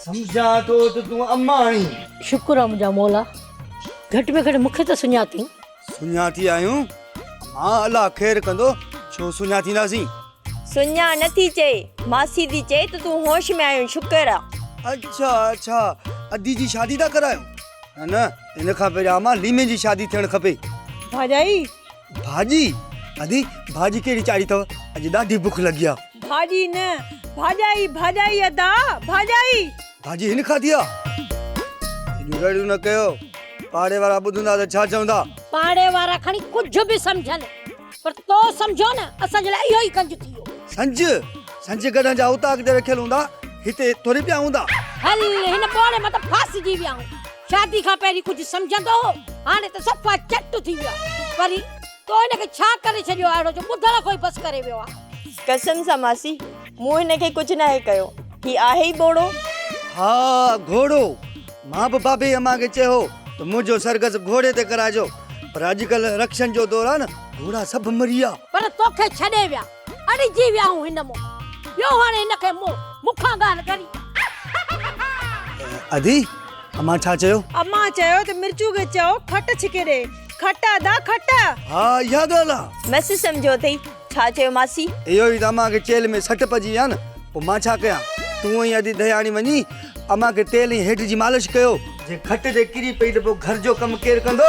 سمجهان ٿو ته تون اماڻي. شڪر آ منهنجا مولا گهٽ ۾ گهٽ مونکي ته سڃاتين. سڃاتي آهيون مان الله خير ڪندو ڇو سڃاتينداسين. سڃان نه ٿي چئي ماسي ٿي چئي ته تون هوش ۾ آهين شڪر آ. اڇا اڇا ادي جي شادي ٿا ڪرايو نه نه ان کان پهريان امان ليمي جي شادي ٿيڻ کپي. ڀاڄائي ڀاڄي، ادي ڀاڄي ڪهڙي چاڙهي اٿئو، اڄ ڏاڍي بک لڳي آ. ڀاڄي نه، ڀاڄائي، ڀاڄائي ادا، ڀاڄائي. ڀاڄي هن کاڌي آ. ايڏيون رڙيون نه ڪيو، پاڙي وارا ٻڌندا ته ڇا چوندا. پاڙي وارا کڻي ڪجهه به سمجهن، پر تو سمجهيو نه، اسان جي لاء اهو ئي ڪنج ٿيو. سنج، سنج گڏهن جا اوطاق تي رکيل هوندا، هتي ٿوري پيا هوندا. هل، هن ٻوڙي مٿان ڦاسجي ويا آهون. شادي کان پهرين ڪجهه سمجهندو هو، هاڻي ته صفا چٽ ٿي ويو آهي. پري، تو هن کي ڇا ڪري ڇڏيو آهي اهڙو جو ٻڌڻ کان ئي بس ڪري ويو آهي. قسم سان ماسي، مون هن کي ڪجهه ناهي ڪيو. هي آهي ئي ٻوڙو. ها، گهوڙو. مان به بابي امان کي چيو هو ته منهنجو سرگس گهوڙي تي ڪرائجو، پر اڄڪلهه رڪشن جو دور آهي نه، گهوڙا سڀ مري ويا. پر توکي ڇڏي ويا. اڙجي وياهون هن مون ڏيو هاڻي هن کي مون مون کان ڳالهه ڳري. ادي امان ڇا چيو؟ امان چيو ته مرچو کي چئو کٽ ڇڪي ڏي کٽ ادا کٽ. ها اها ڳالهه آ. مس سمجهيو اٿئي ڇا چيو ماسي. اهو ئي ته امان کي چيلهه ۾ سٽ پئجي وئي آ نه پوء مان ڇا ڪيان تون ۽ ادي دهياڻي وڃي امان کي تيل ۽ هيڊ جي مالش ڪيو. جي کٽ تي ڪري پئي ته پوء گهر جو ڪم ڪير ڪندو.